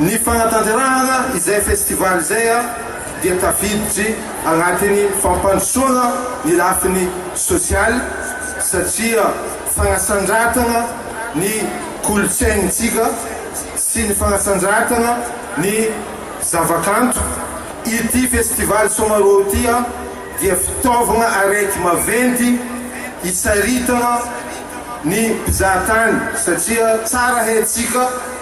Ny fanatanterahana izay festival izay dia tafiditry anatin'ny fampandrosoana ny lafiny sosialy satria fanasandratana ny kolontsaintsika sy ny fanasandratana ny zavakanto. Ity festival Somaroho ity dia fitaovana arety maventy hitsaritana ny mpizahatany satria tsara haintsika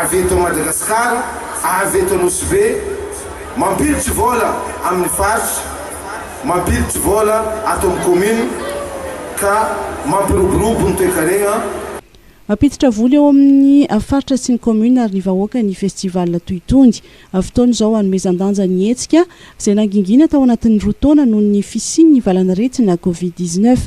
avy eto Madagasikara, avy eto Anosibe, mampilitry vola amin'ny faritra, mampilitry vola ato amin'ny kaominina ka mampiroborobo ny toekarena. Mampiditra vola eo amin'ny faritra sy ny kaominina ary ny vahoaka ny festival toy itony. Fotoana izao hanomezan-danja ny hetsika, izay nangingina tao anatin'ny roa taona noho ny fisian'ny valan'aretina Covid dix-neuf.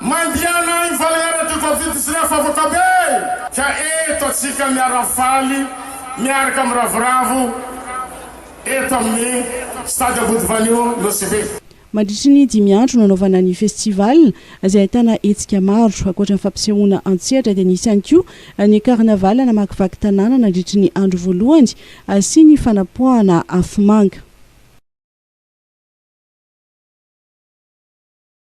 Mandehana any Valera de Covid sy Rafavaka be. Ka eto atsika miara faly miaraka miravoravo eto amin'ny Stade Ambodivanio Nosy Be. Mandritry ny dimy andro nanaovana ny festival, izay ahitana hetsika maro. Ankoatra ny fampisehoana an-tsehatra dia nisy ihany koa ny carnaval namakivaky tanàna nandritry ny andro voalohany sy ny fanapoahana afomanga.